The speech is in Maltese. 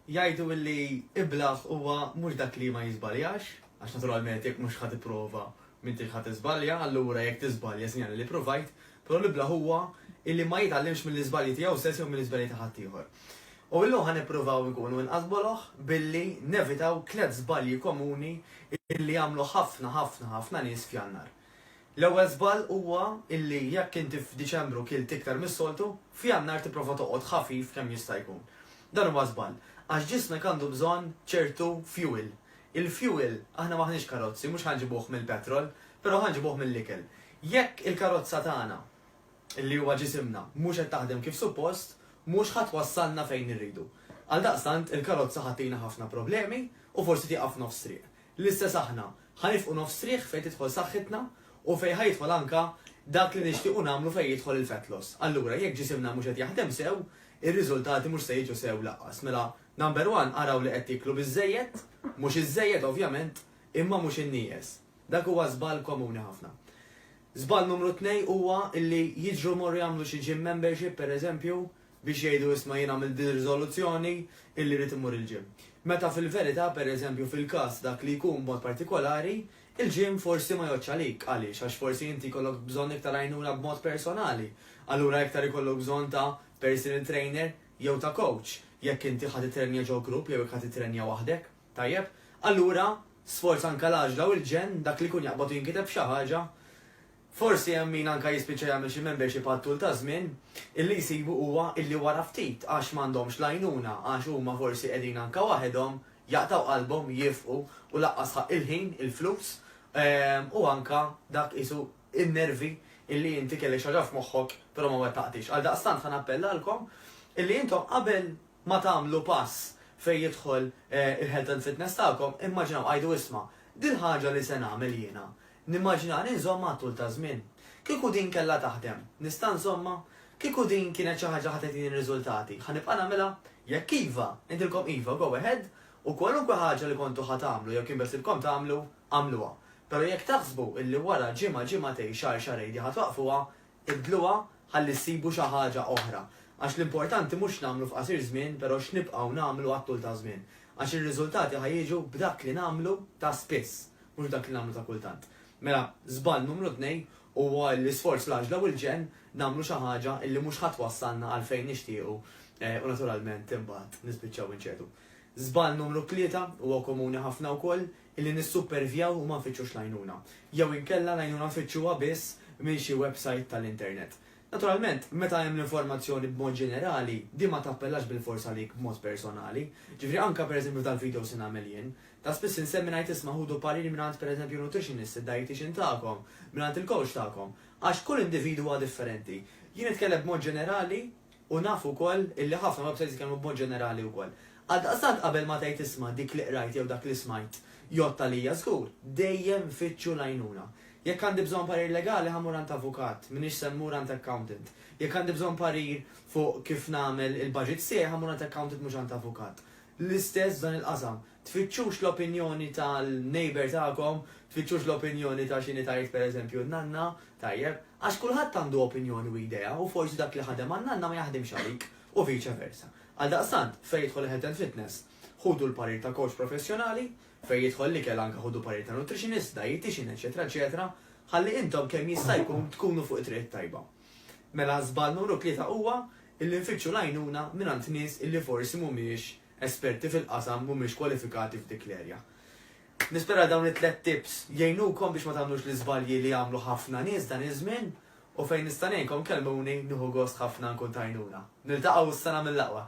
Jgħidu illi iblah huwa mhux dak li ma jiżbaljax, għax naturalment jekk mhux ħa tipprova m'intix ħa tiżbalja, allura jekk tiżbalja sinjali li provajt, però l-iblah huwa illi ma jitgħallimx mill-iżbalji tiegħu stess jew mill-iżbalji ta' ħaddieħor. U illum ħa nippruvaw inkunu inqas boloh billi nevitaw tliet żbalji komuni illi jagħmlu ħafna ħafna ħafna nies f'Jannar. L-ewwel żball huwa illi jekk inti f'Diċembru kilt iktar mis-soltu, f'Jannar tipprova toqgħod ħafif kemm jista' jkun. Dan huwa żball, għax ġismek għandu bżonn ċertu fuel. Il-fuel, aħna m'aħniex karozzi, mhux ħa nġibuh mill-petrol, però ħa nġibuh mill-ikel. Jekk il-karozza tagħna, illi huwa ġisimna, mhux qed taħdem kif suppost, mhux ħa twassalna fejn irridu. Għaldaqstant, il-karozza ħa ttina ħafna problemi u forsi tieqaf f'nofs triq. L-istess aħna, ħa nifqu nofs riħ fejn tidħol saħħitna u fejn ħa jidħol anka dak li nixtiequ nagħmlu fejn jidħol il-fat loss. Allura, jekk ġisimna mhux qed jaħdem sew, ir-riżultati mhux se jiġu sew lanqas. Mela, number one, araw li qed tieklu biżżejjed, mhux iżżejjed ovvjament, imma mhux innieqes. Dak huwa żball komuni ħafna. Żball numru tnej huwa li jiġru jmorru jagħmlu xi gym membership, pereżempju, biex jgħidu isma' jien għamilt din ir-riżoluzzjoni illi rrid immur il-gym. Meta fil-verità, per eżempju, fil-każ dak li jkun b'mod partikolari, il-gym forsi ma jgħoddx għalik. Għaliex? Għax forsi inti jkollok bżonn iktar għajnuna b'mod personali. Allura iktar ikollok bżonn ta' personal trainer jew ta' coach, jekk inti ħa tittrenja ġo grupp jew jekk ħa tittrenja waħdek. Tajjeb? Allura, sforz anke l-għaġla u l-ġenn, dak li jkun jaqbad u jinkiteb f'xi ħaġa, Forsi hemm min anke jispiċċa jagħmel xi membership għat-tul taż-żmien, illi jsibu huwa illi wara ftit għax m'għandhomx l-għajnuna, għax huma forsi qegħdin anke waħedhom, jaqtgħu qalbhom, jifqu u laqqas sħaq il-ħin, il-flus, u anke dak qisu n-nervi illi inti kellek xi ħaġa f'moħħok però ma wettaqtiex. Għaldaqstant ħa nappellalkom illi intom qabel ma tagħmlu pass fejn jidħol il-health and fitness tagħkom, immaġinaw, għidu isma', dil-ħaġa li se nagħmel jiena, Nimmaġinani nżommha għat-tul taż-żmien. Kieku din kellha taħdem, nista' nżommha? Kieku din kienet xi ħaġa ħa tagħtini r-riżultati, ħa nibqa' nagħmilha? Jekk iva, ngħidilkom iva, go ahead, u kwalunkwe ħaġa li kontu ħa tagħmlu jew kien beħsiebkom tagħmlu, agħmluha. Però jekk taħsbu illi wara ġimgħa, ġimgħatejn, xahar, xahrejn din ħa twaqqfuha, ibdluha ħalli ssibu xi ħaġa oħra. Għax l-importanti mhux x'nagħmlu f'qasir żmien, però x'nibqgħu nagħmlu għat-tul taż-żmien. Għax ir-riżultati ħa jiġu b'dak li nagħmlu ta' spiss, mhux dak li nagħmlu ta' kultant. Mela, żball numru tnejn huwa l-isforz, l-għaġla u l-ġenn nagħmlu xi ħaġa li mhux ħa twassalna għal fejn nixtiequ u naturalment imbagħad nispiċċaw inċedu. Żball numru tlieta huwa komuni ħafna wkoll, illi nissuppervjaw u ma nfittxux l-għajnuna. Jew inkella l-għajnuna nfittxuha biss minn xi websajt tal-internet. Naturalment, meta hemm l-informazzjoni b'mod ġenerali, din ma tappellax bilfors għalik b'mod personali. Ġifieri anke pereżempju f'dal-video se nagħmel jien, Ta' spiss insemmi ngħid isma' ħudu pariri mingħand pereżempju nutritionist, id-dietician tagħkom, mingħand il-coach tagħkom, għax kull individwu huwa differenti. Jien nitkellem b'mod ġenerali u naf ukoll illi ħafna websites jitkellmu b'mod ġenerali wkoll. Għaldaqstant qabel ma tgħid isma' dik li qrajt jew dak li smajt jgħodd għalija żgur, dejjem fittxu l-għajnuna. Jekk għandi bżonn parir legali ħa mmur għand avukat, m'iniex se mmur għand accountant. Jekk għandi bżonn parir fuq kif nagħmel il-budgets tiegħi ħa mmur għand accountant mhux għand avukat. l-istess f'dan il-qasam. Tfittxux l-opinjoni tal-neighbour tagħkom, tfittxux l-opinjoni ta' x'inhi tgħid pereżempju n-nanna, tajjeb, għax kulħadd għandu opinjoni u idea u forsi dak li ħadem għan-nanna ma jaħdimx għalik u vice versa. Għaldaqstant, fejn jidħol il-health and fitness, ħudu l-parir ta' coach professjonali, fejn jidħol l-ikel anke ħudu parir ta' nutritionist, dietician, eċċetera, eċċetera, ħalli intom kemm jista' jkun tkunu fuq it-triq it-tajba. Mela żball numru tlieta huwa illi nfittxu l-għajnuna mingħand nies illi forsi mhumiex esperti fil-qasam, mhumiex kwalifikati f'dik l-erja. Nispera dawn it-tliet tips jgħinukom biex ma tagħmlux l-iżbalji li għamlu ħafna nies dan iż-żmien u fejn nista' ngħinkom kellmuni nieħu gost ħafna nkun t'għajnuna. Niltaqgħu s-sena mill-aqwa!